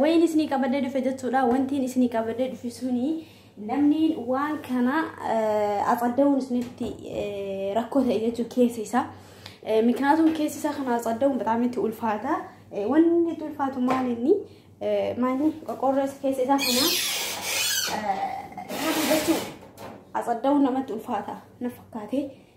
Wayiin isinii qabadee dhufe jechuudha. Wantiin isinii qabadee dhufe suni namni waan kana atsadda'uun isinitti rakkoo ta'e jechuun keessa isaa. Miknaatum keessa isaa kana atsadda'uun bataam itti ulfaata. Wanni itti ulfaatu maal inni maali qoqqoorroo keessa isaa kana jechuun atsadda'uun namatti ulfaata na fakkaate.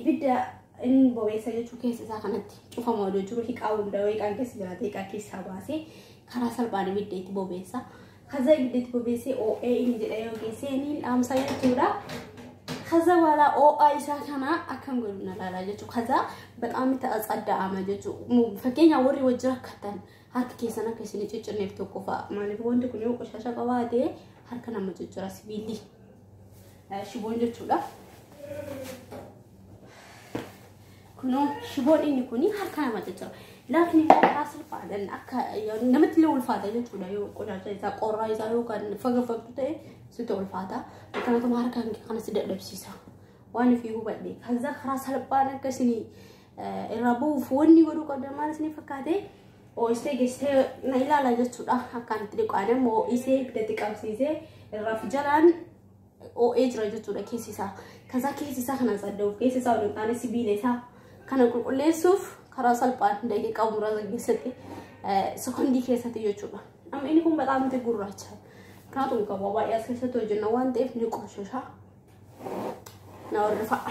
ibidda inni bobeessa jechuu keessa isaa kanatti cufama odoo jiru hiqaa hunda hiqaan keessa jiraate hiqaa keessaa baasee karaa salphaan ibidda itti bobeessa. Kaza ibidda itti bobeessee oo'ee inni jedha yoo geessee inni hin dhaamsa jechuudha. Kaza wala oo'aa isaa kana akkam godhu na laalaa jechuudha. Kaza bexaam itti atsaddaa'ama jechuudha. Fakkeenya warri wajjin rakkatan harka keessan akka isin ciccirneef tokko fa'a. Maaliif wanti kun yoo qoshasha qabaate harka nama ciccira sibiilli. shiboon jechuudha. Kunoo shiboon inni kun harka nama caccaba. Laafni isaa salphaadhaan akka namatti illee ulfaata jechuudha yoo qodaacha isaa qorraa isaa yoo kan fagafagtu ta'e sitti ulfaata. Akkanatuma harka kanas dadhabsiisa. Waan ofii hubadhe. Kaza karaa salphaan akka isinii irraa bu'uuf wanni godhuu qabdan maal isin fakkaate oo'istee geessitee na ilaala jechuudha akkaan itti dhiqaan immoo oo'isee gadi qabsiisee irraa fi jalaan oo'ee jira jechuudha keessi isaa kasaa keessi isaa kana saddeet keessi isaa waliin taane sibiila isaa kana qulqulleessuuf karaa salphaan daqiiqaa muraasa keessatti sekondii keessatti jechuudha amma inni kun bataam itti gurraacha kanaatu qaba baay'ee as keessatti hojjenna waan ta'eef ni qoshasha na warra fa'a.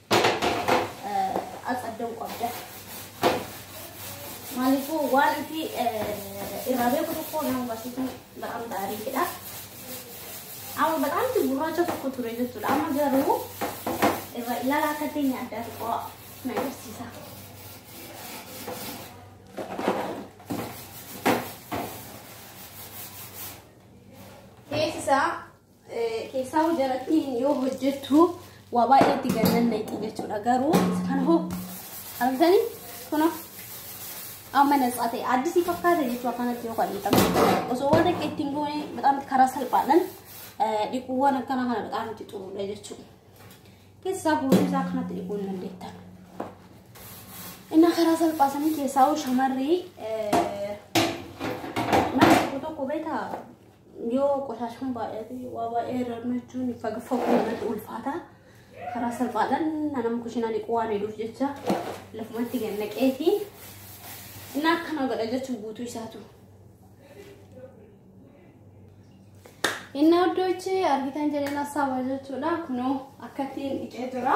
axadda'uu qabda. Maaliifuu waan itti irraa beeku tokko nama barsiisuun ba'aan gaariidha. Amma ba'aanti gurraacha tokko ture jechuudha. Amma garuu irra ilaala akka teenya addaa tokko na agarsiisa. Beeksisa Keessaa jarattiin yoo hojjettu waa baay'ee itti gannan naqi jechuudha garuu kan hoo argitanii kunoo amma natsaa ta'e addisii fakkaata jechuu akkanatti yoo qal'ifame osoo waan akka ittiin goone bataamti karaa salphaadhaan dhiquuwwan akkana kana bataamti xuruudha jechuudha. Keessaa guutuu isaa akkanatti dhiquu hin dandeettan. Inni karaa salphaasanii keessaa shamarrii mana tokko tokko beekaa Yoo qoshashan baay'ate waa baay'ee irra jechuun faga fagoo irratti ulfaata. Karaa salphaadhaan nama kushinaa dhiquu waan hedduuf jecha lafumatti gad naqee fi inni akkana godha jechuun guutuu isaatu. Inni iddoo ichi argitan jedheen hasaawaa jechuudha. Kunoo akkattiin dhiqee jira.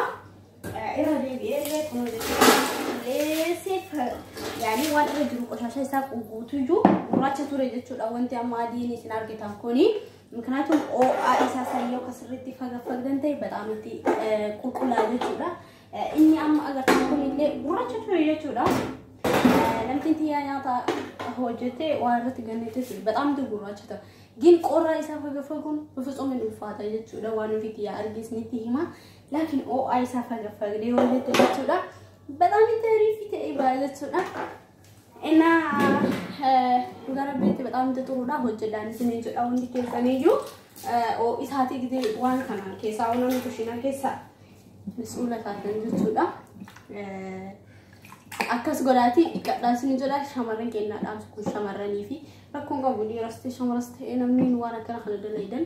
Irra deebi'ee illee kun qulleessee yaanii waan irra jiru qoshasha isaa guutuu iyyuu gurraacha ture jechuudha wanti amma adiin isin argitan kuni. Miknaatum OA isaa sayyoo akka sirriitti fagafagdan ta'e bataam itti qulqullaa jechuudha. Inni amma agartan kun illee gurraacha ture jechuudha. Namtiin tiyyaa nyaata hojjete waan irratti gannetti ture bataam itti gurraacha ta'a. Gin qorraa isaa fagafaguun bifitsum hin ulfaata jechuudha waan ofiitti yaa argisnitti hima. laakiin oo'aa isaa fagafagdee yoo jette jechuudha bataam itti ariifii ta'ee ba'a jechuudha እና gara beetti በጣም ጥሩudha hojjedhaan isin jechuudha hundi keessaniyyuu isaatii gidee waan kana keessaa uumamni kushiina keessa suula taatan jechuudha akkas godhaatii dhiqadhaa isin jedha shamarran keenyaadhaaf kun shamarranii fi rakkoon qabu dhiiras ta'e shamaras ta'e namni waan akkana kana dalagan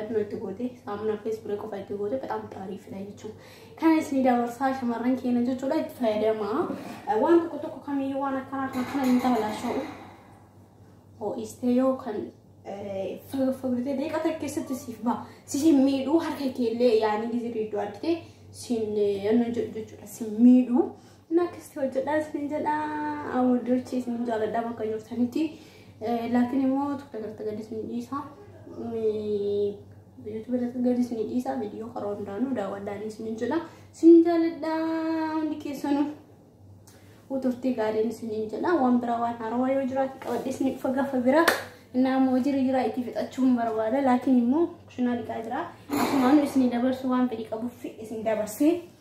Aduu itti gootee saamunaa fi ispiree qofa itti gootee bataam xaariifidha jechuudha. Kana isin dabarsaa shamarran keenya jechuudha itti fayyadamaa. Waan tokko tokko kamiyyuu waan akkanaa kan kana hin taalaasha'u. Ho'istee yoo kan fagfagdee deeqa takka keessatti siif ba'a. Si hin miidhuu harka keellee yaanii gizirri iddoo argitee sin yanna jechuudha sin miidhuu. Naakkisti hojjedhaa isin jedha awuddochi isin jaaladhaa bakka jirtanitti laakiin immoo tokko irratti gadi isin dhiisa yuutuubi irratti gadi isin dhiisa viidiyoo karaa hundaanuu daawwadhaan isin jedha isin jaaladhaa hundi keessanuu uturtii gaariin isin jedha waan biraa waan haarawaa yoo jiraate qabadhee isin dhufa gaafa biraa innaa immoo hojii jiraa itti fixachuun barbaada laakiin immoo kushinaa dhiqaa jira akkuma anu isin dabarsu waan fedhii qabuuf isin dabarsee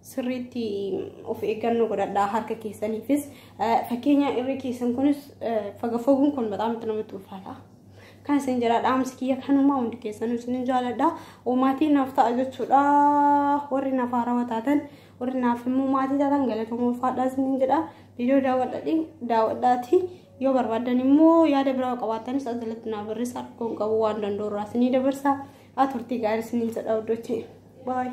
sirriitti of eeggannoo godhadhaa harka keessaniifis fakkeenya irri keessan kunis faga foguun kun bataam itti namatti ulfaata. Kan isin jedha dhaamsi kiyya kanumaa hundi keessan isin jaaladha. Maatii naaf ta'a jechuudha. Warri naaf haarawa taatan warri naaf immoo maatii taatan galatooma ulfaadhaa isin jedha. Viidiyoo daawwadhaatiin daawwadhaatii yoo barbaadan immoo yaada biraa qabaatanis as jalatti naa barreessa rakkoon qabu waan danda'u irraa isin dabarsa. Haa turtii gaarii isin jedha hordofaa. Bye.